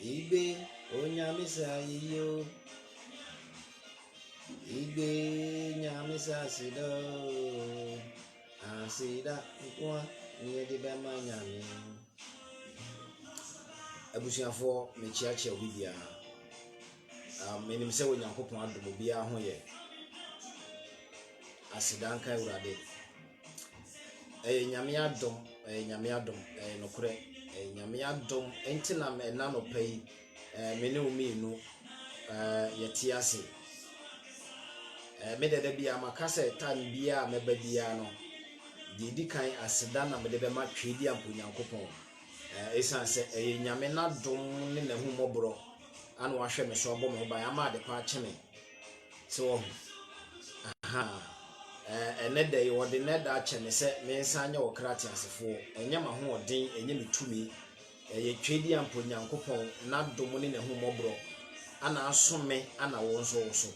Igbe o nyame sa yeye o. Igbe nyame sa aseda o. Aseda nko a ne yɛde bɛma nyame. Abusuafoɔ mekyeakyea obi biara. Um, menim sɛ Onyankopɔn adom obiara ho yɛ. Aseda nka Awurade. Ɛyɛ Nyame adom, ɛyɛ Nyame adom, ɛyɛ nokorɛ. Ɛyɛ Nyame adom nti na ɛna anɔpa yi me ne wo mmienu yɛte ase. Me dɛ da biara maka sɛ time biara a mɛba biara no, deɛ ɛdi kan aseda na mede bɛma Tweediampo Nyankopɔn. Ɛsiane sɛ ɛyɛ Nyame n'adom ne n'ahummɔborɔ ana wahwɛ me so abɔ me ho ban ama adepa akye me. So woahu? Aha! Ɛnnɛ da yi, wɔde nnɛ da akyɛ me sɛ mensan nyɛ ɔkra teasefoɔ. Ɛnyɛ m'ahoɔden, ɛnyɛ me tumi. Ɛyɛ Tweedi a mpo Nyankopɔn, N'adom ne N'ahummɔborɔ, ana aso me ana wo nso woso.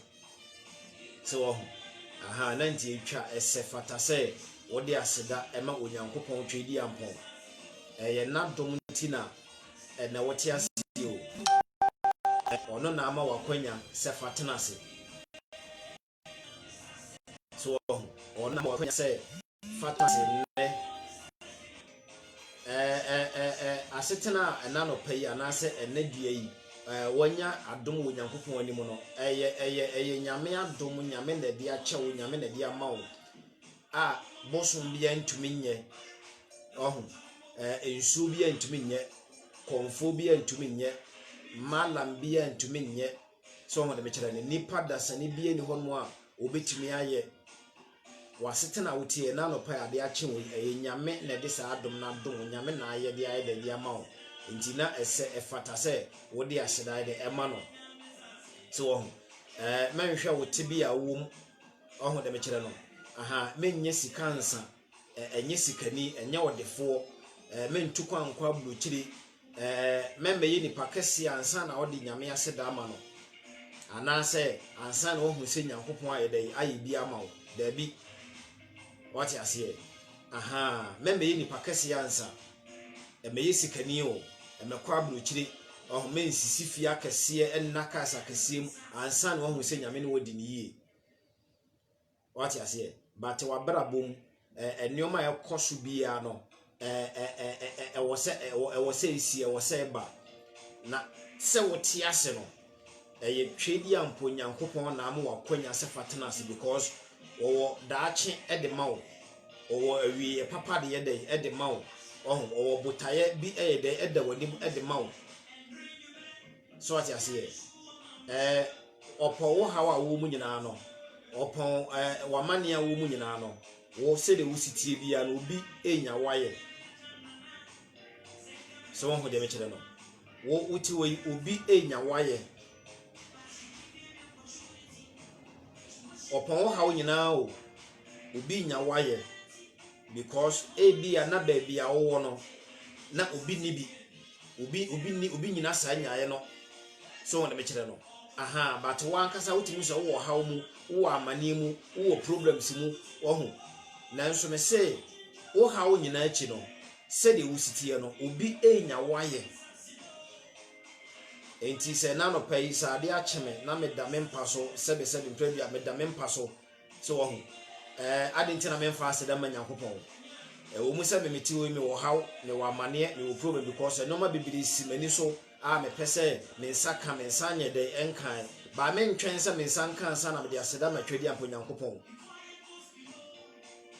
So woahu? Aha! Ɛna nti ɛtwa, ɛsɛ, fata sɛ wode aseda ma Onyankopɔn Tweediampɔn. Ɛyɛ N'adom nti na Ɛnnɛ wote aseɛ o. Ɔno na ama wakwanya sɛ fa tena ase. So wahu? Ɔno na ama wakwanya sɛ fa tena ase nnɛ. Ɛɛ ɛɛ ɛɛ asetena a ɛna nɔpa yi anaasɛ ɛnɛ dua yi ɛɛ wanya adom wɔ Nyankopɔn anim no ɛyɛ ɛyɛ ɛyɛ Nyame adom Nyame na ɛde akyɛ wo Nyame na ɛde ama wo. a bosom biara ntumi nyɛ, ɔho, ɛɛ nsuo biara ntumi nyɛ, kɔnfoɔ biara ntumi nyɛ, malam biara ntumi nyɛ. So ɔho de mekyerɛ no, nipa dasani biara ni hɔ nom a obetumi ayɛ. Wasetena a woteɛ na anɔpa ade akye wo, ɛyɛ nyame na ɛde saa adom na adom wo, nyame na ayɛ de ayɛ dɛ de ama wo. Nti na ɛsɛ ɛfata sɛ wode aseda ayɛ dɛ ɛma no. So ɔho, ɛɛ mɛnhwɛ wo tebea a wowɔ mu. Wahu dɛ mekyerɛ no, ahaa, mennyɛ sika nsa, eh, ɛnyɛ sikani, ɛnyɛ ɔdefoɔ, eh, mentu kwan nkɔ aburokyire, eh, mɛmmɛyɛ nipa kɛseɛ ansa na ɔde nyame ase da ama no, anaasɛ ansa na wahu sɛ nyankopɔn ayɛ dɛ ayɛ bi ama wo, daabi, wate aseɛ, ahaa, mɛmmɛyɛ nipa kɛseɛ ansa. Mɛyɛ sikani o, mɛkɔ aburokyire, ɔho mɛnsisi fie akɛseɛ, ɛnna cars akɛseɛ mu, ansa na wahu sɛ nyame ne wɔdi ne yie. Wate aseɛ? But wabrabɔ mu, nneɛma a ɛkɔ so biara no, ɛwɔ sɛ ɛsi, ɛwɔ sɛ ɛba. Na sɛ wote ase no, Ɛyɛ twɛdi a mpo Nyankopɔn na ama wo akwanya sɛ fa tena ase because ɔwɔ daakye ɛde ma wo. Ɔwɔ awieɛ papa de yɛ dɛ ɛde ma wo. Ɔho, ɔwɔ botaeɛ bi ɛyɛ dɛ ɛda w'anim ɛde ma wo. So ate aseɛ? Ɛɛ, ɔpɔn wo haw a wo mu nyinaa no. Ɔpɔn ɛɛ w'amanneɛ a wo mu nyinaa no. Wo sɛdeɛ wo sitie biara no, obi ɛnya wo ayɛ. sɛ wɔn ho deɛ mekyerɛ no wo wote wɔ yi obi enya wayɛ ɔpɔn wo haw nyinaa o obi nya wayɛ because ebi a na baabi a wowɔ no na obi ni bi obi obi ni obi nyina saa nyaayɛ no sɛ wɔn deɛ mekyerɛ no aha but wɔn ankasa wotumi sɛ wowɔ haw mu wowɔ amaneɛ mu wowɔ problems mu wɔho nanso me se wo haw nyinaa akyi no. Sɛdeɛ wosi teɛ no, obi renya wo ayɛ. Enti sɛ na anɔpa yi sɛ adeɛ akye me na meda me mpa so sɛbesɛbe mprɛ bi a meda me mpa so sɛ wahu ɛɛ ade nti na memfa aseda ma Nyankopɔn. Ɛwɔ mu sɛ me mete hɔ yi mewɔ haw, mewɔ amaneɛ, mewɔ problem because nneɛma bebree si m'ani so a mepɛ sɛ me nsa ka, me nsa nyɛ dɛn ɛnkae. Baa mentwɛn sɛ me nsa nka ansa na mede aseda ma Twɛdeampa Onyankopɔn.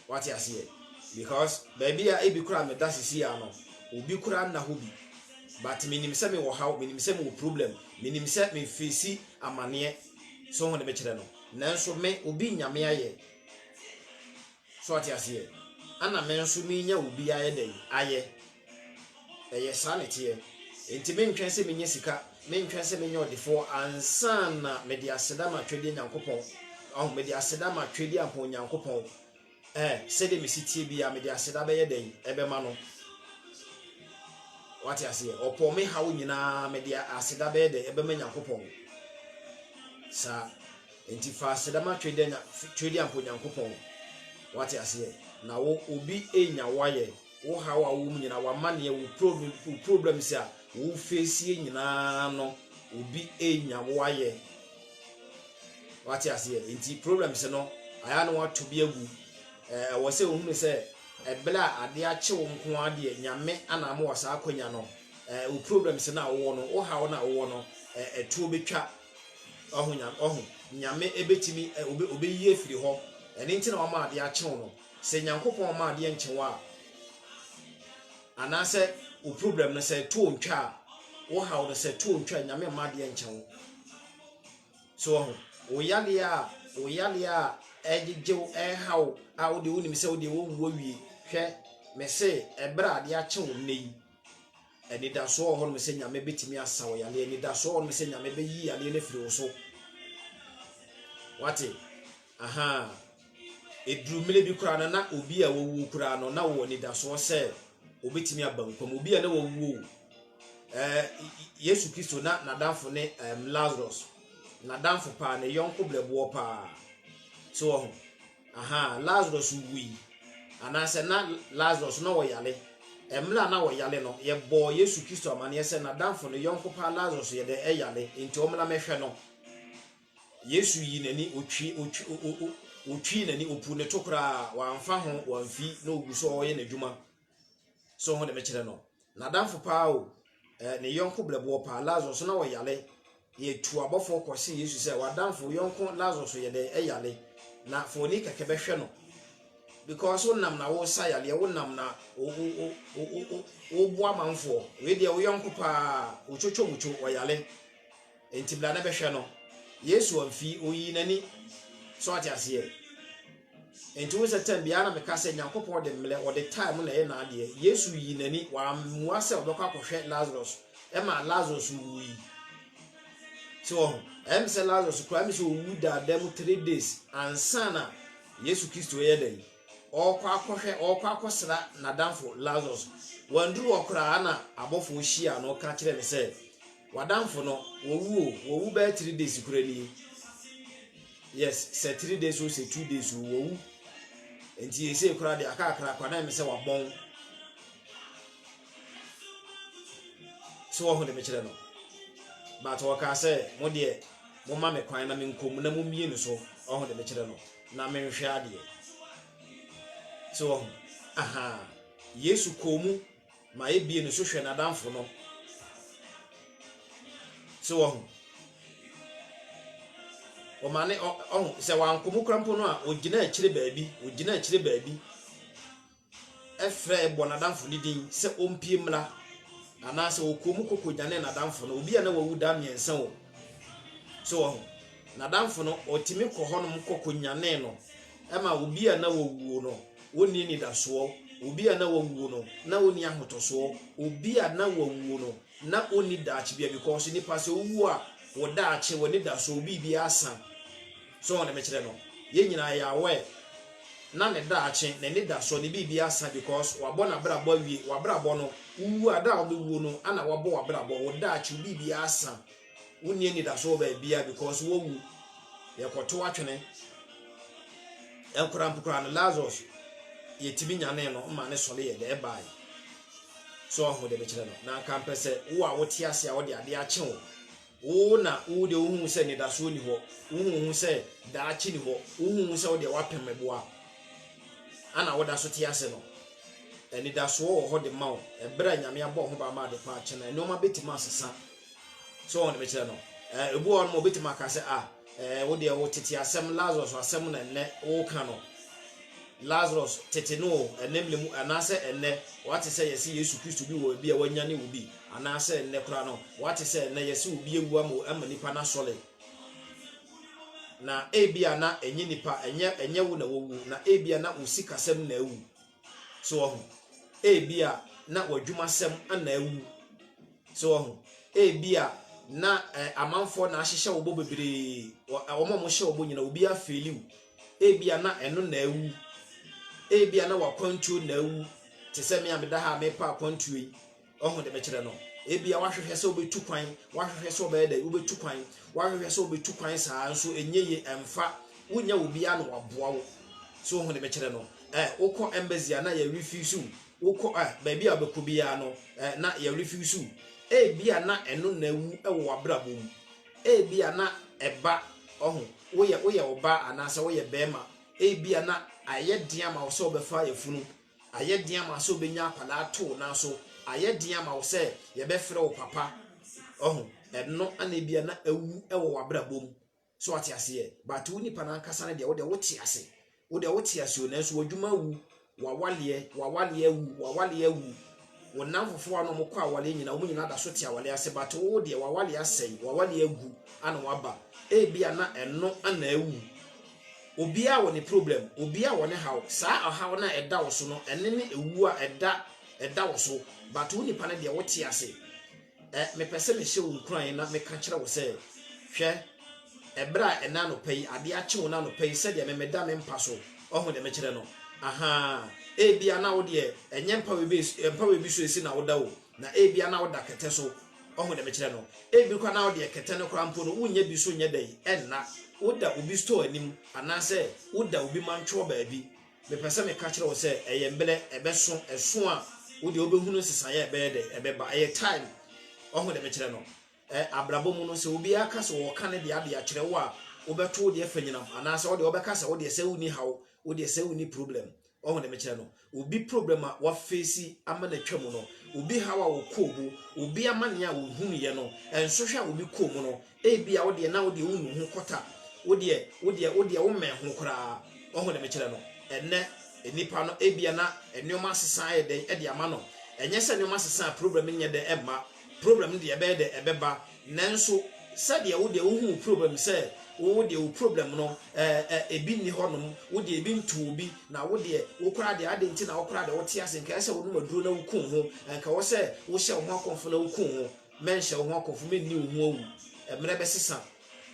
Wate aseɛ? Because baabi a ebi koraa meda sisi a no, obi koraa nna hɔ bi. But menim sɛ mewɔ haw, menim sɛ mewɔ problem, menim sɛ mefeesi amaneɛ. So ho ne mekyerɛ no? Nanso me, obi nnya me ayɛ. So wate aseɛ? Ɛna me nso menya obi ayɛ dɛn? Ayɛ. Ɛyɛ saa na ɛteɛ. Enti mentwɛn sɛ menya sika, mentwɛn sɛ menya ɔdefoɔ ansa na mede aseda ma Twɛdeɛ Nyankopɔn. Ɔho, mede aseda ma Twɛdeɛ Ampɔn Nyankopɔn. Eh, sɛdeɛ mesi tie biara, mede aseda bɛyɛ dɛn? Ɛbɛma no. Wate aseɛ? Ɔpɔɔ me haw nyinaa, mede aseda bɛyɛ dɛn? Ɛbɛma Nyankopɔn. Saa. Enti fa aseda ma Twɛdeɛ Ampɔn Nyankopɔn. Wate aseɛ? Na wo, obi enya wo ayɛ. Wo haw a wowɔ mu nyinaa, w'amanneɛ, wo problem, wo problems a wo face nyinaa no, obi enya wo ayɛ. Wate aseɛ? Nti problems no, ayɛ na wato bi agu. Ɛwɔ sɛ ohunu sɛ ɛbla a adeɛ akye wo nko ara deɛ Nyame ana ama wɔ saa akwanya no. Wo problems no a wowɔ no, wo haw no a wowɔ no, ɛtoɔ bɛtwa. Wahu? Nyame bɛtumi, obeyi afiri hɔ. Ɛno nti na wama adeɛ akye wo no. Sɛ Nyankopɔn ma adeɛ nkye wo a, anaasɛ wo problem no sɛ ɛto ntwa a, wo haw no sɛ to ntwa Nyame mma adeɛ nkyɛ wo. So wɔ ho, wo yadeɛ a, wo yadeɛ a ɛgyegye wo, ɛha wo a, wo deɛ wonim sɛ wo deɛ wɔnwu awie. Hwɛ, mese ɛberɛ a adeɛ akye wo nnɛ yi, Anidasoɔ wɔ hɔnom sɛ Nyame bɛtumi asa wo yadeɛ. Anidasoɔ wɔ hɔnom sɛ Nyame bɛyi yadeɛ no afiri wo so. Wate? Aha. Ɛduru mmerɛ bi koraa no, na obi a wawuo koraa no, na wɔ anidasoɔ sɛ obɛtumi aba nkwa mu. Obi a na wawuo eh, Yesu Kristo na n'adamfo ne um, Lazarus. N'adamfo paa, ne yɔnko brɛboɔ paa. So wɔ ho? Aha, Lazarus wui. Anaasɛ na Lazarus na ɔyare. Mmerɛ a na ɔyare no, yɛbɔɔ Yesu Kristo amaneɛ sɛ n'adamfo, ne yɔnko paa Lazarus yɛ dɛ ɛyare, enti ɔmmra mɛhwɛ no. Yesu yii n'ani, ɔtwi, ɔtwi, ɔ, ɔ, ɔ, ɔtwii n'ani, ɔpuu ne to koraa, wamfa ho, wamfi, na ɔgu so ɔreyɛ n'adwuma. so ho de mekyerɛ no n'adamfo paa o eh, ne yɔnko brɛboɔ paa lazarus so na wɔyale yɛtu abɔfoɔ kɔse yesu sɛ w'adamfo yɔnko lazarus yɛ dɛ ɛyale na fa oni kɛkɛ bɛhwɛ no because wonam na wosa yaleɛ wonam na woboa manfoɔ wei deɛ wo yɔnko paa wotwotwo mutwo ɔyale Enti bra na bɛhwɛ no. Yesu amfi, oyii n'ani. So ate aseɛ? Enti wohu sɛ tɛm biara na meka sɛ Nyankopɔn de mmerɛ, ɔde time na ɛyɛ n'adeɛ. Yesu yii n'ani, wammua sɛ ɔbɛkɔ akɔhwɛ Lazarus, ɛmaa Lazarus wuui. So wɔho, ɛyɛ me sɛ Lazarus koraa me sɛ owu daadaa mu three days ansa na Yesu Kristo ɛyɛ dɛn? Ɔrekɔ akɔhwɛ, ɔrekɔ akɔsra n'adamfo Lazarus. Wanduru hɔ koraa na abɔfoɔ hyiaa no ka kyerɛɛ no sɛ, W'adamfo no wɔwu o wɔwu bɛyɛ three days kura ni yes sɛ three days o sɛ two days o wɔwu nti yɛsɛ kura de akakra kwadan mi sɛ wabɔn so wɔho de mekyerɛ no but wɔkaa sɛ mo deɛ moma me kwan na menkɔm na mommie no so ɔho de mekyerɛ no na menhwɛ adeɛ so wɔho aha yesu kɔɔ mu ma ebie ne so hwɛ n'adamfo no. So wɔho. Wɔma ne ɔho sɛ wanko mu kora mpo no a ogyina akyire baabi, ogyina akyire baabi ɛfrɛ bɔ n'adamfo ne din sɛ ɔmpie mmra anaasɛ ɔkɔɔ mu kɔkɔ nyane n'adamfo no obi a na wawu da mmiɛnsa o. So wɔho. N'adamfo no ɔtumi kɔ hɔnom kɔkɔ nyane no. Ɛma obi a na wawuo no, ɔnni anidasoɔ, obi a na wawuo no, na ɔnni ahotɔsoɔ, obi a na wawuo no, na ɔnni daakye bia because nipa sɛ owuo a, wo daakye, w'anidasoɔ, wo biribi asa. So wɔn de mekyerɛ no? Yɛn nyinaa yɛ aware, na ne daakye, n'anidasoɔ, ne biribi asa because wabɔ n'abrabɔ awie, w'abrabɔ no, wowuo a, da a wobɛwuo no, ɛna wabɔ w'abrabɔ, wo daakye, wo biribi asa. wonni anidaso wɔ baabi a because wowu yɛkɔto atwene nkora mpokora no lazarus yɛtumi nyane no ma ne sɔre yɛ dɛ ɛbae sɛ ɔho de mekyerɛ no na nka mpɛ sɛ wo a wote ase a wode adeɛ akye wo wo na wo de wohu sɛ nidasoɔ ni hɔ wohu sɛ daakye ni hɔ wohu sɛ wodeɛ woapem meboa ana woda so te ase no anidasoɔ wɔ hɔ de ma wo ɛberɛ a nyame abɔ ho ba ma ade kɔ akye no nneɛma bɛtumi asesa So wɔn de bɛkyerɛ no? Eh, ebu wɔn ma obetumi aka sɛ, ah, eh, wo deɛ wo tete asɛm, Lazarus asɛm na nnɛ woka no. Lazarus tete no o, ɛnɛ mmere mu, anaasɛ ɛnnɛ wate sɛ yɛse Yesu Kristo bi wɔ ebi a wanyane obi, anaasɛ ɛnnɛ koraa no, wate sɛ ɛnnɛ yɛse obi awu ama ama nipa na sɔle. Na ebi a na ɛnyɛ nipa, ɛnyɛ ɛnyɛ wo na wowu, na ebi a na wo sikasɛm na awu. So wɔ ho? Ebia na w'adwumasɛm na awu. So wɔ ho? Ebia na eh, amanfoɔ na ahyehyɛ wo bɔ bebree. Wɔn a wɔhyɛ wo bɔ nyina, obi afeeli wo. Ebia na ɛno na awu. Ebia na w'akwantuo na awu. Te sɛ me a meda ha a mepa akwantuo yi. Ɔho de bɛkyerɛ no. Ebia wahwehwɛ sɛ wobɛtu kwan, wahwehwɛ sɛ ɔbɛyɛ dɛ, wobɛtu kwan, wahwehwɛ sɛ wobɛtu kwan saa nso ɛnyɛ ye ɛmfa, wonya obiara na waboa wo. So ɔho de bɛkyerɛ no. Eh, wokɔ embassy a na yɛ refuse wo. Wokɔ eh, baabi a wobɛkɔ biara no eh, na yɛ refuse wo. Ebia na ɛno na awu wɔ w'abrabɔ mu. Ebia na ɛba, ɔho, woyɛ woyɛ ɔbaa anaasɛ woyɛ bɛrima. Ebia na ayɛ den ama wo sɛ wobɛfa yafunu. Ayɛ den ama wo sɛ wobɛnya akwadaa too nanso ayɛ den ama wo sɛ yɛbɛfrɛ wo papa. Ɔho, ɛno na ebia na awu wɔ w'abrabɔ mu. So ate aseɛ? But wo nipa no ankasa no deɛ, wo deɛ wote ase. Wo deɛ wote ase o, nanso w'adwuma awu, w'awaleɛ, w'awaleɛ awu, w'awaleɛ awu. Wo nnamfofoɔ a na wɔkɔ awale nyina, wɔn nyina da so te awale ase, but wo deɛ w'awale asɛe, w'awale agu, ana waba. Ebia na ɛno ana awu. Obiara wɔ ne problem, obiara wɔ ne haw. Saa ɔhaw no a ɛda wo so no, ɛne ne ɛwuo a ɛda ɛda wo so, but wo nipa no deɛ wote ase. Ɛ, mepɛ sɛ mehyɛ wo nkuran na meka kyerɛ wo sɛ, hwɛ, ɛberɛ a ɛnnɛ anɔpa yi, adeɛ akye wo no anɔpa yi, sɛdeɛ me meda me mpa so, wahu deɛ mekyerɛ no? Ahaa, ebia na wo deɛ, ɛnyɛ mpa wei bi, mpa wei bi so esi na woda o, na ebia na woda kɛtɛ so, wahu deɛ mekyerɛ no? Ebi koraa na wo deɛ kɛtɛ no koraa mpo no, wonnya bi so nyɛ dɛn, ɛnna, woda obi store anim, anaasɛ woda obi mantwoɔ baabi. Mepɛ sɛ meka kyerɛ wo sɛ ɛyɛ mmerɛ, ɛbɛso, ɛso a wo deɛ wobɛhunu nsesaeɛ a ɛbɛyɛ dɛ, ɛbɛba, ɛyɛ time, wahu deɛ mekyerɛ no? Ɛ, abrabɔ mu no, sɛ obiara ka sɛ ɔɔka ne deɛ ade akyerɛ wo a, wobɛto wo deɛ fanyinam, anaasɛ wo deɛ wɔbɛka sɛ wo deɛ sɛ wonni haw, wo deɛ sɛ wonni problem, wahu deɛ mekyerɛ no? Obi problem a wafeesi ama no atwa mu no, obi haw a ɔkɔɔ mu, obi amaneɛ a ɔhunuiɛ no, nsohwɛ a obi kɔɔ mu no, Ebia wo deɛ, na wo deɛ wonnu wo ho kɔta, wo deɛ, wo deɛ, wo deɛ wommɛn ho koraa. Wahu deɛ mekyerɛ no? Ɛnnɛ, nnipa no, ebia na nneɛma asesa ayɛ dɛn de ama no. Ɛnyɛ sɛ nneɛma sesa a, problem nyɛ dɛ mma. Problem no deɛ, ɛbɛyɛ dɛ ɛbɛba. Nanso, sɛdeɛ wo deɛ wohu wo problem sɛ, wo deɛ wo problem no, ɛɛ, ɛ, ebi nni hɔnom, wo deɛ ebi nto wo bi, na wo deɛ, wo koraa deɛ, adɛn nti na wo koraa deɛ wote ase? Nka ɛsɛ sɛ wonom aduro na wuku wo ho. Nka ɛwɔ sɛ wohyɛ wo ho akɔmfo na wuku wo ho. Mɛnhyɛ wo ho akɔmfo, menni wo ho awu, mmerɛ bɛsesa.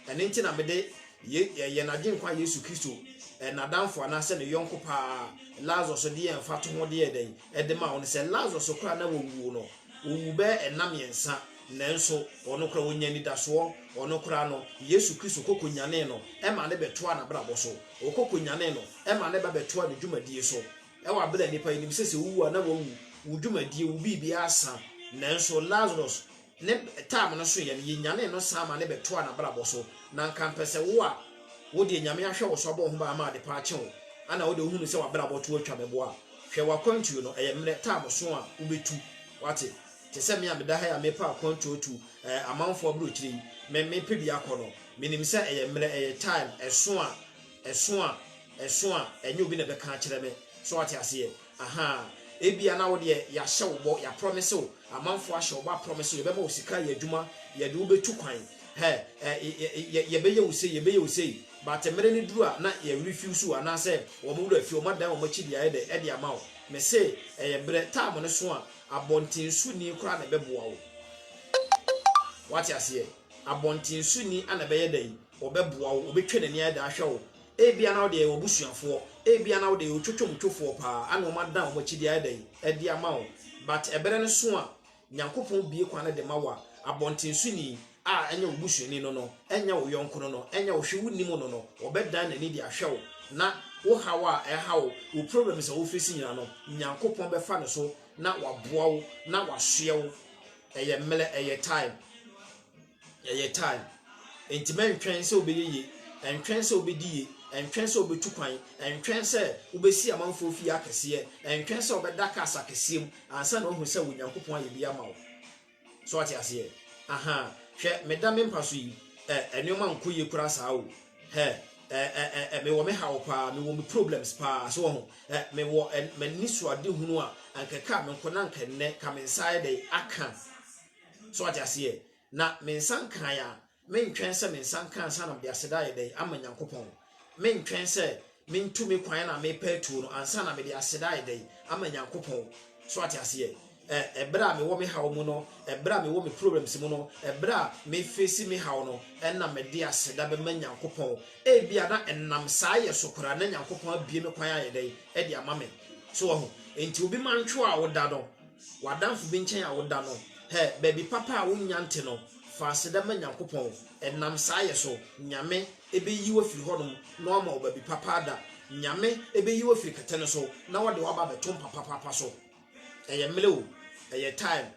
Ɛno nti na mede yɛn Agyenkwa Yesu Kristo, n'adamfo anaa sɛ ne yɔnko pa ara, Lazarus de yɛɛ mfatoho de yɛɛ dɛn? de maa wo no. Sɛ Lazarus koraa na wawuo no, ɔwuu bɛyɛ nna mmiɛnsa, nanso ɔno koraa ɔnyaa anidasoɔ, ɔno koraa no, Yesu Kristo kɔ kɔnyanee no maa no bɛtoaa n'abrabɔ so, ɔkɔ kɔnyanee no maa no ba bɛtoaa ne dwumadie so. Wɔ aber a nyimpa yi nim sɛ sɛ owu a na oewu, wo dwumadie, wo biribiara asa, nanso Lazarus ne time no soeɛ no, yɛnyanee no saa ma ne bɛtoaa n'abrabɔ so. Na anka mpɛ sɛ wo a wo deɛ Nyame ahwɛ wo so abɔ wo ho ban ama ade pa akye wo, ana wo deɛ wohunu sɛ w'abrabɔ to atwa meboa a, hwɛ w'akwantuo no, ɛyɛ mmerɛ, time so a wobɛtu, wate, te sɛ me a meda ha yi a merepɛ akwantuo atu, ɛɛ amanfoɔ aburokyire yi, me, mepɛ bi akɔ no, menim sɛ ɛyɛ mmerɛ, ɛyɛ time, ɛso a. Ɛso a, ɛso a, ɛnyɛ obi na ɛbɛka akyerɛ me. So wate aseɛ? Ahaa. Ebia na wo deɛ yɛahyɛ wo bɔ, yɛaprɔmese wo, amanfoɔ ahyɛ wo bɔ aprɔmese wo, yɛbɛma wo sika ayɛ adwuma, yɛde wo bɛtu kwan, hɛ, ɛ, yɛ, yɛbɛyɛ wo sei, yɛbɛyɛ wo sei, but mmerɛ no duru a, na yɛrefiusu wo, anaasɛ wɔn werɛ afi wo, wɔadan wɔn akyi de ayɛ dɛ, de ama wo. Mese, ɛyɛ mmerɛ, time no so a, abɔntensoni koraa na ɛbɛboa wo. Wate aseɛ? Abɔntensoni na ɛbɛyɛ dɛn? Ɔbɛboa wo, ɔbɛtwa n'ani ayɛ dɛ ahwɛ wo. Ebia na wode yɛ w'abusuafoɔ, ebia na wode yɛ wo twotwomtwofoɔ paa a na wɔn adan wɔn akyi de ayɛ dɛn? De ama wo. But ɛberɛ no so a Nyankopɔn bue kwan no de ma wo a, abɔntensoni a ɛnyɛ wo busuani no no, ɛnyɛ wo yɔnko no no, ɛnyɛ wo hwe wonim no no, ɔbɛdan n'ani de ahwɛ wo na wo haw a ɛha wo, wo problems a wo face nyina no, Nyankopɔn bɛfa no so na waboa wo na wasoɛ wo. Ɛyɛ mmerɛ, ɛyɛ time. Yɛyɛ time. Enti mɛntwɛn sɛ wobɛyɛ yie, ɛntwɛn sɛ wobɛdi yie, ɛntwɛn sɛ wobɛtu kwan, ɛntwɛn sɛ wobɛsi amanfoɔ fie akɛseɛ, ɛntwɛn sɛ wobɛda cars akɛseɛ mu ansa na woahu sɛ Onyankopɔn ayɛ bi ama wo. So wate aseɛ? Aha, hwɛ, meda me mpa so yi, ɛ, nneɛma nkɔ yie koraa saa o. Hɛ, ɛ, ɛ, ɛ, ɛ, mewɔ me haw paa, mewɔ me problems paa, so wahu, ɛ, mewɔ ɛ, m'anisoadehunu a, anka ɛkaa me nko na anka ɛnnɛ, ka me nsa ayɛ dɛn, aka. So wate aseɛ? Na me nsa nkae a, mentwɛn sɛ me nsa nka ansa na mede aseda ayɛ dɛn ama Nyankopɔn. Mentwɛn sɛ mentu me kwan a merepa atuo no ansa na mede aseda ayɛ dɛn ama Nyankopɔn. So wate aseɛ? Ɛberɛ a mewɔ me haw mu no, ɛberɛ a mewɔ me problems mu no, ɛberɛ a mefesi me haw no, ɛna mede aseda bɛma Nyankopɔn. Ebia na ɛnam saa yɛ so koraa na Nyankopɔn abue me kwan ayɛ dɛn de ama me. So wahu? Enti obi mantwoa wo da no, w'adamfo bi nkyɛn a woda no, hɛ, baabi papa a wonnya nte no, fa aseda ma Nyankopɔn, ɛnam saa yɛ so, Nyame, ɛbɛyi wo afiri hɔ nom, na wama wo baabi papa ada, Nyame, ɛbɛyi wo afiri kɛtɛ no so, na wɔde wo aba abɛto mpa papapa so. Ɛyɛ mmrɛ o, ɛyɛ time,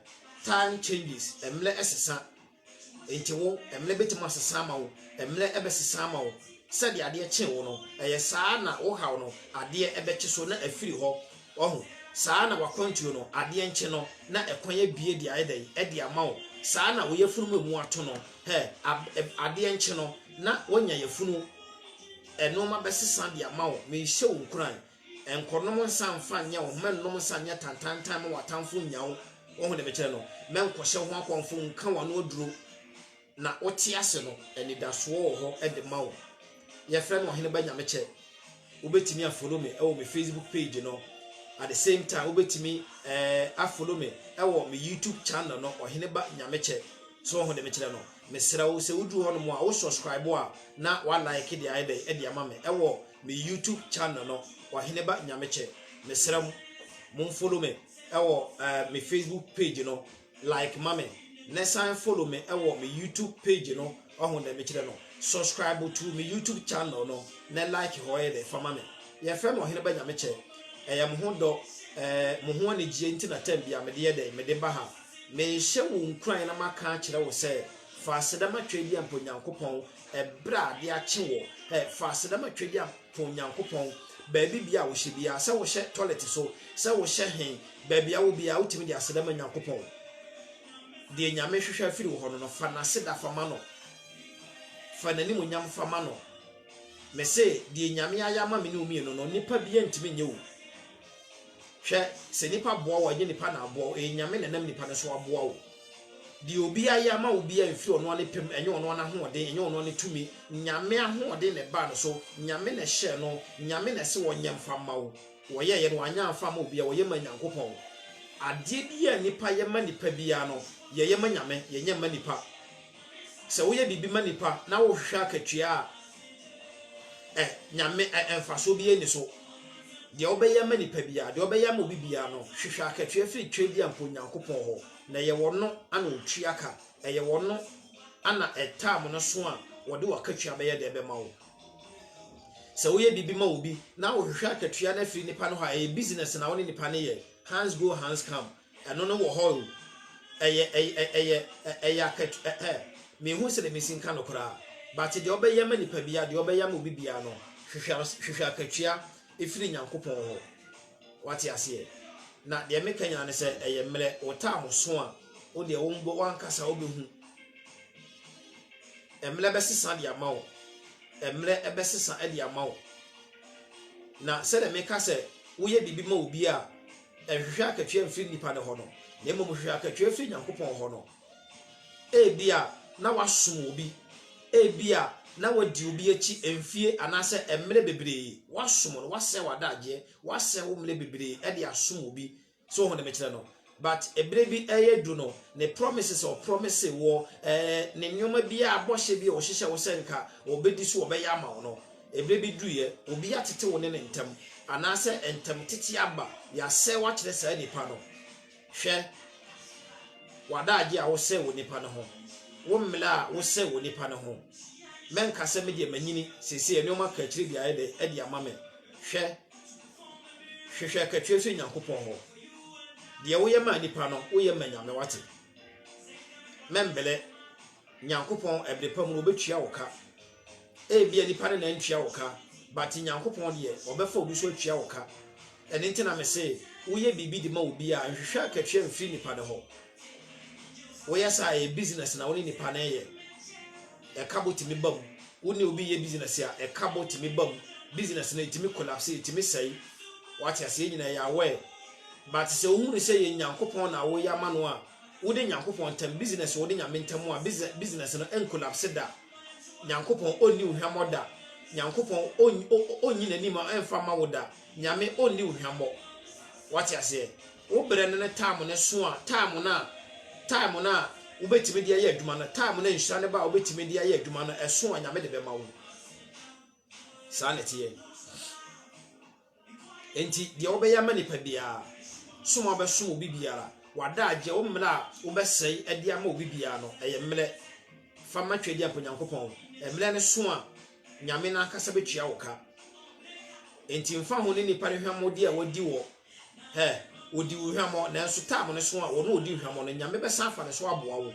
time changes, mmrɛ ɛsesa. Enti wo mmerɛ bɛtumi asesa ama wo, mmerɛ bɛsesa ama wo. Sɛdeɛ adeɛ kye wo no, ɛyɛ saa na wo haw no, adeɛ bɛkye so na afiri hɔ. Wahu? Saa na w'akwantuo no, adeɛ nkye no na ɛkwan abue de ayɛ dɛn? De ama wo. Saa na wo yafunu mu a emu ato no, hɛ, ab, ɛ, adeɛ nkye no na woanya yafunu. Nnoɔma bɛsesa de ama wo. Merehyɛ wo nkuran. Nkɔnom nsa mfa nyɛ wo ho, mɛnnom nsa nyɛ tantantan ma w'atamfo nnya wo. Woahu deɛ mekyerɛ no? Mɛnkɔhyɛ wo ho akɔmfo nka w'ano aduro, na wote ase no, anidasoɔ wɔ hɔ de ma wo. Yɛfrɛ no Ɔheneba Nyamekyɛ. Wobɛtumi a follow me wɔ me Facebook page no, at the same time wobɛtumi eh, a follow me wɔ me YouTube channel no, Ɔheneba Nyamekyɛ. So woahu deɛ mekyerɛ no? Mesrɛ wo sɛ woduru hɔnom a, wo subscribe a na wa like deɛ ayɛ dɛn de ama me wɔ me YouTube channel no Ɔheneba Nyamekyɛ mesrɛ mo mo follow me ɛwɔ ɛɛ me Facebook page no like ma me na san follow me ɛwɔ me YouTube page no ɔho dɛ mekyerɛ no subscribe to me YouTube channel no na like hɔ yɛ dɛ fa ma me yɛfrɛ me Ɔheneba Nyamekyɛ ɛyɛ mo ho dɔ ɛɛ mo ho anigyeɛ nti na tɛm bia mede yɛ dɛ mede ba ha mehyɛ wo nkuran na maka akyerɛ wo sɛ fa aseda matwa adi ampa Onyankopɔn Ɛberɛ a de akye wɔ ɛ fa aseda ma Twadiam to Nyankopɔn baabi bia a wohyɛ biara, sɛ wohyɛ tɔlɛte so, sɛ wohyɛ he, baabi a wowɔ biara wotumi de aseda ma Nyankopɔn. Deɛ Nyame hwehwɛ afiri wo hɔ no no, fa N'aseda fa ma no. Fa N'animuonyam fa ma no. Mese, deɛ Nyame ayɛ ama me ne wo mmienu no, nnipa biara ntumi nyɛ o. Hwɛ, sɛ nnipa boa wo a, ɛnyɛ nnipa na aboa wo, ɛyɛ Nyame na ɛnam nnipa no so aboa wo. Deɛ obi ayɛ ama wo biara mfiri ɔno ara ne pɛ mu, ɛnyɛ ɔno ara n'ahoɔden, ɛnyɛ ɔno ara ne tumi. Nyame ahoɔden na ɛbaa no so, Nyame na ɛhyɛɛ no, Nyame na ɛse ɔnyɛ mfa mma wo. Ɔyɛeɛ no, wanyɛ amfa amma obiara, ɔyɛ maa Nyankopɔn. Adeɛ biara a nnipa yɛ ma nnipa biara no, yɛyɛ ma Nyame, yɛnyɛ mma nnipa. Sɛ woyɛ biribi ma nnipa na wohwehwɛ akatua a, ɛ, Nyame, ɛ, mfasoɔ biara nni so. Deɛ wobɛyɛ ama nnipa biara, deɛ wobɛyɛ ama obi biara no, hwehwɛ akatua firi twerɛdua mpo Nyankopɔn hɔ, na ɛyɛ Ɔno ana Ɔtua ka, ɛyɛ Ɔno ana ɛ, time no so a Ɔde w'akatua bɛyɛ dɛn bɛma wo. Sɛ woyɛ biribi ma obi na wohwehwɛ akatua no afiri nnipa no hɔ a, ɛyɛ business na wo ne nnipa no yɛ, hands go hands come. Ɛno no wɔ hɔ o. Ɛyɛ ɛyɛ ɛyɛ ɛyɛ akatu ɛ ɛ menhu sɛdeɛ mesi nka no koraa but deɛ ɔbɛyɛ ama nipa biara deɛ ɔbɛyɛ ama obi biara no hwehwɛ hwehwɛ akatua ɛfiri Nyankopɔn hɔ wate aseɛ na deɛ meka nyinaa ne sɛ ɛyɛ mmerɛ wo taa mo so a wo deɛ wo mbɔ wankasa wobɛhu mmerɛ bɛsesa de ama wo mmerɛ ɛbɛsesa de ama wo na sɛdeɛ meka sɛ woyɛ biribi ma obi a Nhwehwɛ akatua mfiri nnipa no hɔ no, na mmom hwehwɛ akatua firi Nyankopɔn hɔ no. Ebia na woasom obi, ebia na woadi obi akyi mfie anaasɛ mmerɛ bebree, woasom no, woasɛe w'adagyeɛ, woasɛe wo mmerɛ bebree de asom obi, so wohu ne mekyerɛ no? But ɛberɛ bi redu no, ne promises a ɔpromise woɔ, ne nneɛma biara, bɔhyɛ bi a ɔhyehyɛ wo sɛ nka ɔbɛdi so ɔbɛyɛ ama wo no, Ɛberɛ bi duruiɛ, obi atete wo ne no ntam, anaasɛ ntam tete aba, yɛasɛe wo akyerɛ saa nipa no. Hwɛ, w'adagyeɛ a wosɛe wɔ nipa no ho, wo mmela a wosɛe wɔ nipa no ho. Mɛnka sɛ me deɛ manyini, seesei nneɛma kaakyire bi ayɛ dɛ de ama me. Hwɛ, hwehwɛ kaakyire firi Nyankopɔn hɔ. Deɛ woyɛ maa nipa no, woyɛ ma Nyame, wate. Mɛmbelɛ, Nyankopɔn ɛberɛ pa mu no ɔbɛtua wo ka. Ebia nipa no na ntua wo ka but Nyankopɔn deɛ ɔbɛfa obi so atua wo ka ɛno nti na mese woyɛ biribi de ma obi a nhwehwɛ akatua mfiri nipa no hɔ woyɛ saa ɛyɛ business na wo ne nipa no ɛyɛ ɛkabɔ tumi ba mu wo ne obi yɛ business a ɛkabɔ tumi ba mu business no ɛtumi collapse ɛtumi sɛe wate aseɛ yɛ nyina ɛyɛ aware but sɛ wohunu sɛ yɛ Nyankopɔn na woyɛ ama no a wode Nyankopɔn ntam business wode nyame ntam a business no ɛncollapse da Nyankopɔn ɔnni wo hwammɔ da Nyankopɔn ɔnyi n'anim mfa mma wo da Nyame ɔnni wo hwammɔ Wate aseɛ? Wo berɛ no ne time no so a time no a time no a wobɛtumi de ayɛ adwuma no time no a nhyira no ba a wobɛtumi de ayɛ adwuma no ɛso a Nyame de bɛma wo Saa na ɛteɛ Enti deɛ wobɛyɛ ama nipa biara, som a wobɛsom obi biara, w'adagyeɛ, wo mmerɛ a wobɛsɛe de ama obi biara no, ɛyɛ mmerɛ. Fa ma Tweaduampɔ Nyankopɔn. Mmerɛ no so a, Nyame no ankasa bɛtua wo ka. Enti mfa ho ne nipa no hwammɔdeɛ a wadi wɔ hɛ, ɔdi wo hwammɔ, nanso taam no so a, ɔno ɔdi hwammɔ no, Nyame bɛsan afa ne so aboa wo.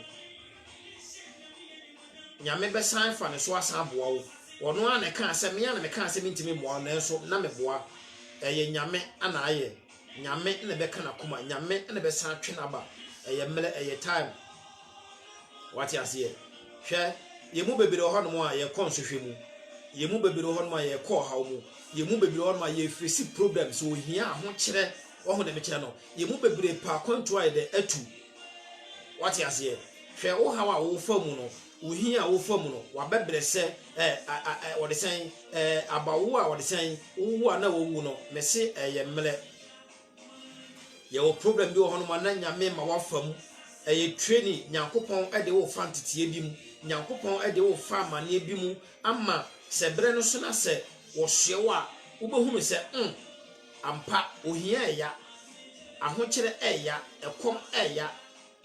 Nyame bɛsan afa ne so asan aboa wo. Ɔno ara na ɛkaa sɛ, me a na mekaa sɛ mentumi mmoa wo, nanso na meboa. Ɛyɛ Nyame na ayɛ. Nyame na ɛbɛka n'akoma. Nyame na ɛbɛsan atwe no aba. Ɛyɛ mmerɛ, ɛyɛ time. Wate aseɛ? Hwɛ, yɛn mu bebree wɔ hɔnom a yɛkɔ nsɔhwɛ mu. Yɛn mu bebree wɔ hɔnom a yɛkɔ ɔhaw mu. Yɛn mu bebree wɔ hɔnom a yɛfesi problems, ohia, ahokyerɛ, wahu deɛ mekyerɛ no. Yɛn mu bebree pɛ akwantuo a yɛde atu. Wate aseɛ? Hwɛ wo haw a wofa mu no, wo hia a wofa mu no, wabɛbrɛ sɛ ɛ a a ɛ wɔde sɛn ɛ abawo a wɔde sɛn wowo a na wawu no, mese ɛyɛ mmerɛ. Yɛwɔ problem bi wɔ hɔnom a na Nyame ma wafa mu. Ɛyɛ training, Nyankopɔn de wo fa nteteɛ bi mu, Nyankopɔn de wo fa amaneɛ bi mu ama sɛ berɛ no so na sɛ wɔsoɛ wo a, wobɛhunu sɛ mm, Ampa, ohia ɛya, ahokyerɛ ɛya, ɛkɔm ɛya,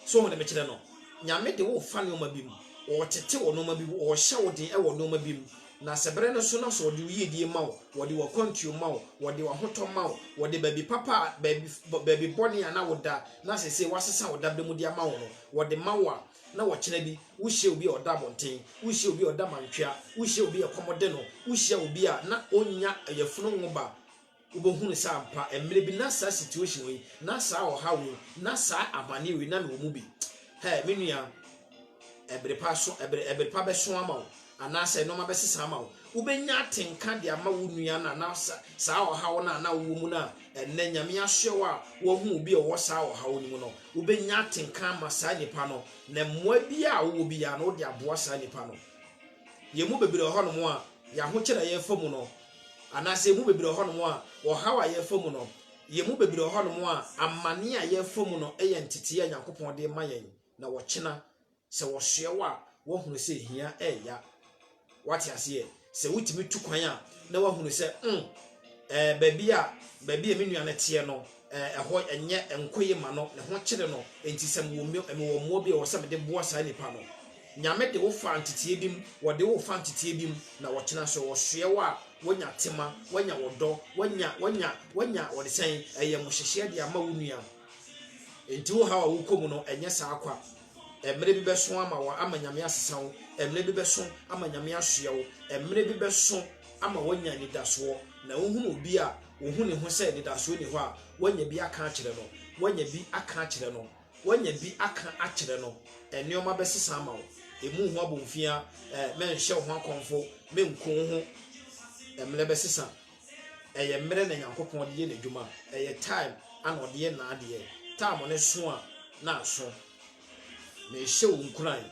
so wohu de mekyerɛ no? Nyame de wo fa nnoɔma bi mu, ɔɔtete wɔ nnoɔma bi mu, ɔɔhyɛ wo den wɔ nnoɔma bi mu, na sɛ berɛ no so no nso ɔde wo yiedie ma wo, ɔde w'akwantuo ma wo, ɔde w'ahotɔ ma wo, ɔde baabi papa a, baabi, baabi bɔne a na wo da na sesei wasesa wo dabrɛ mu de ama wo no, ɔde ma wo a, na ɔkyena bi wo hyia obi a ɔda abɔnten, wo hyia obi a ɔda mantwea, wo hyia obi a ɛkɔm de no, wo hyia obi a na ɔnnya yafunu nwoba, Wobɛhunu sɛ ampa, mmerɛ bi na saa situation wei, na saa ɔhaw wei, na saa amane wei na mewɔ mu bi. Hɛɛ, me nua, ɛbere pa so, ɛbere, ɛbere pa bɛso ama wo, anaasɛ nneɛma bɛsesa ama wo. Wobɛnya atenka de ama wo nua no a, na saa ɔhaw no a na wowɔ mu no a, ɛnnɛ Nyame asoɛ wo a woahu obi a ɔwɔ saa ɔhaw no mu no, wobɛnya atenka ama saa nipa no, na mmoa biara a wowɔ biara no, wode aboa saa nipa no. Yɛn mu bebree wɔ hɔnom a, yɛn ahokyerɛ a yɛfa mu no, Anaasɛ yɛn mu bebree wɔ hɔnom a, ɔhaw a yɛrefa mu no, yɛn mu bebree wɔ hɔnom a, amane a yɛrefa mu no yɛ ntetee a Nyankopɔn de rema yɛn, na ɔkyena, sɛ wɔsoɛ wo a, woahunu sɛ hia reya. Woate aseɛ? Sɛ wotumi tu kwan a, na woahunu sɛ, mm, ɛɛ, baabi a, baabi a me nua no teɛ no, Ɛhɔ nyɛ nko ye ma no, ne ho kyere no, enti sɛ mewɔ mewɔ mmoa bi a ɛwɔ sɛ mede boa saa nipa no. Nyame de wo faa nteteɛ bi mu, wɔde wo fa nteteɛ bi mu, na wɔkyena nso wɔsoɛ wo a, wonya tema, woanya ɔdɔ, woanya, woanya, woanya wɔde sɛn, ayamuhyehyeɛ de ama wo nua. Enti wo haw a wokɔ mu no, ɛnyɛ saa kwa. Mmerɛ bi bɛso ama wɔ ama Nyame asesa wo, mmerɛ bi bɛso ama Nyame asoɛ wo, mmerɛ bi bɛso ama woanya anidasoɔ, na wohunu obi a ohu ne ho sɛ anidasoɔ ni hɔ a, wanya bi aka akyerɛ no, wanya bi aka akyerɛ no, wanya bi aka akyerɛ no, nneɛma bɛsesa ama wo. Emu ho abomfia, eh, mɛnhyɛ wo ho akɔmfo, menku wo ho. Mmerɛ bɛsesa. Ɛyɛ mmerɛ na Nyankopɔn de yɛ n'adwuma. Ɛyɛ time ana ɔde yɛ n'adeɛ. Time no so a, na aso. Mehyɛ wo nkuran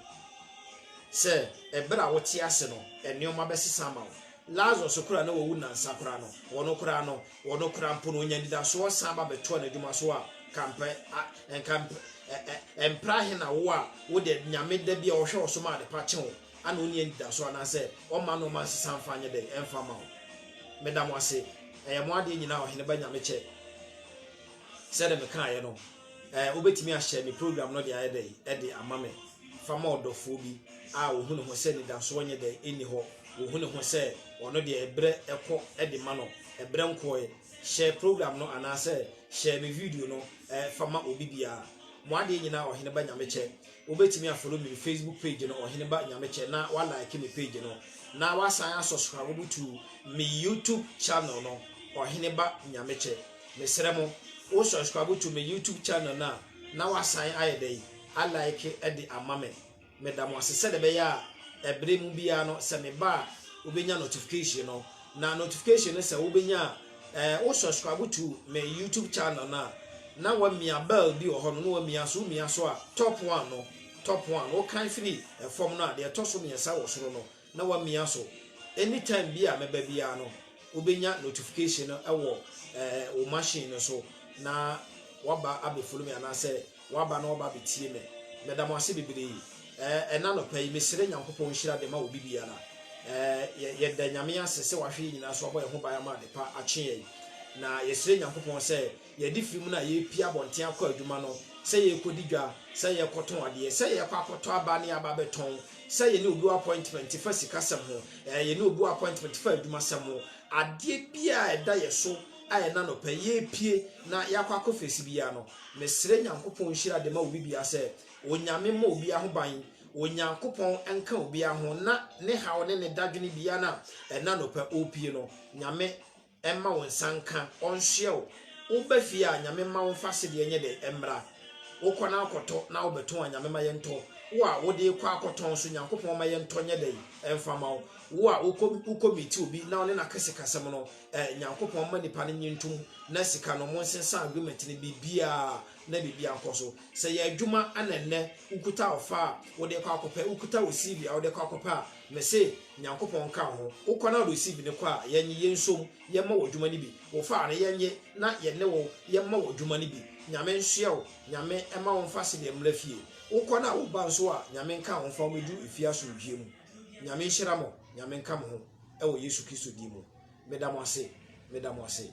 sɛ ɛberɛ a wote ase no, nneɛma bɛsesa ama wo. Lazaro so koraa a na wawu nnansa koraa no, wɔ no koraa no, wɔ no koraa mpo no, ɔnyaa anidasoɔ san ba bɛtoaa n'adwuma so a, ka mpɛ, a, nka mpɛ, ɛ, ɛ, ɛmpra ahe na wo a wo deɛ Nyame da bi a ɔhwɛ wo so ma adepa kye wo a na ɔnni anidasoɔ anaa sɛ ɔmma nnoɔma nsesa mfa nyɛ dɛn ɛmfa mma wo. Meda mo ase. Ɛyɛ mo adeɛ nyinaa Ɔhene ba Nyame kyɛ. Sɛdeɛ mekaeɛ no. Ɛɛ wobɛtumi ahyɛ me program no de ayɛ dɛ ɛde ama me fa ma ɔdɔfoɔ bi a ɔhu ne ho sɛ nidasoɔ nyɛ dɛ ɛnni hɔ ɔhu ne ho sɛ ɔno deɛ ɛberɛ ɛkɔ ɛde ma no ɛberɛ nkɔɛ hyɛ program no anaasɛ hyɛ me video no ɛɛ fa ma obi biara mo adeɛ nyinaa ɔhene ba nyamekyɛ wobɛtumi afolo me facebook page no ɔhene ba nyamekyɛ na walike me page no na wasan asɔsora wobutu me youtube channel no ɔhene ba nyamekyɛ Mesrɛ mo wo subscribe to me YouTube channel no a na wasan ayɛ dɛn a like de ama me. Meda mo ase sɛdeɛ ɛbɛyɛ a ɛbere mu biara no sɛ meba a wobɛnya notification no na notification no sɛ wobɛnya a eh, wo subscribe to me YouTube channel no a na wamia bell bi wɔ hɔ no na wamia so womia so a top one no top one wokan firi ɛfam no a deɛ ɛtɔ so mmiɛnsa wɔ soro no na wamia so any time bi a mɛba biara no wobɛnya notification no wɔ eh, wo machine no so na waba abɛfolo me anaasɛ waba na waba abɛtie me meda mo ase bebree eh, ɛna nɔpa yi mesrɛ nyankopɔn nhyira de ma obi biara eh, yɛda nyame ase sɛ wahwɛ yɛ nyinaa so abɔ yɛn ho ban ama adepa akye yɛn na yɛsrɛ nyankopɔn sɛ Yɛde firi mu na yɛrepue abɔnten akɔ adwuma no, sɛ yɛrekɔdi dwa, sɛ yɛrekɔtɔn adeɛ, sɛ yɛrekɔ akɔtɔ aba ne aba abɛtɔn, sɛ yɛne obi wɔ appointment fa sikasɛm ho, ɛɛ, yɛne obi wɔ appointment fa adwumasɛm ho, adeɛ biara a ɛda yɛn so a ɛna anɔpa yi yɛrepue na yɛakɔ akɔfeesi biara no, mesrɛ Nyankopɔn nhyira de ma obi biara sɛ, Onyame mmɔ obiara ho ban, Onyankopɔn nka obiara ho na ne haw ne ne dadwene biara no a ɛna anɔpa ɔrepue no, Nyame. Mma wo nsa nka ɔnsoɛ wo. Wo ba fie a Nyame mma wo fa sedeɛ nyɛ dɛ mmra. Wo kɔ na kɔ tɔ na wo bɛ tɔn a Nyame ma yɛ ntɔ. Wo a wo de kɔ akɔ tɔn nso Nyankopɔn ma yɛ ntɔ nyɛ dɛ nfa ma wo. Wo a wo kɔ wo kɔ meet obi na wo ne no aka sika sɛm no eh Nyankopɔn mma nipa no nye ntom na sika no mo nsensan agreement no biribiaa na biribiaa nkɔ so. Sɛ yɛ adwuma ɛna nnɛ wo kuta ɔfa a wo de kɔ akɔ pɛ wo kuta wo CV a wo de kɔ akɔ pɛ a Mese Nyankopɔn nka wo ho, wo kɔ na wode osi bi no kɔ a, yɛnye, yɛnsom, yɛmmɔ wo adwuma no bi, wo fa a no, yɛnye na yɛne wo, yɛmmɔ wo adwuma no bi. Nyame nsoɛ wo, Nyame mma wo mfa sedee mmra fie. Wo kɔ no a, wo ba nso a, Nyame nka wo mfa wo mɛduru efie asomdwie mu. Nyame nhyira mo, Nyame nka mo ho, ɛwɔ Yesu Kristo din mu. Meda mo ase, meda mo ase.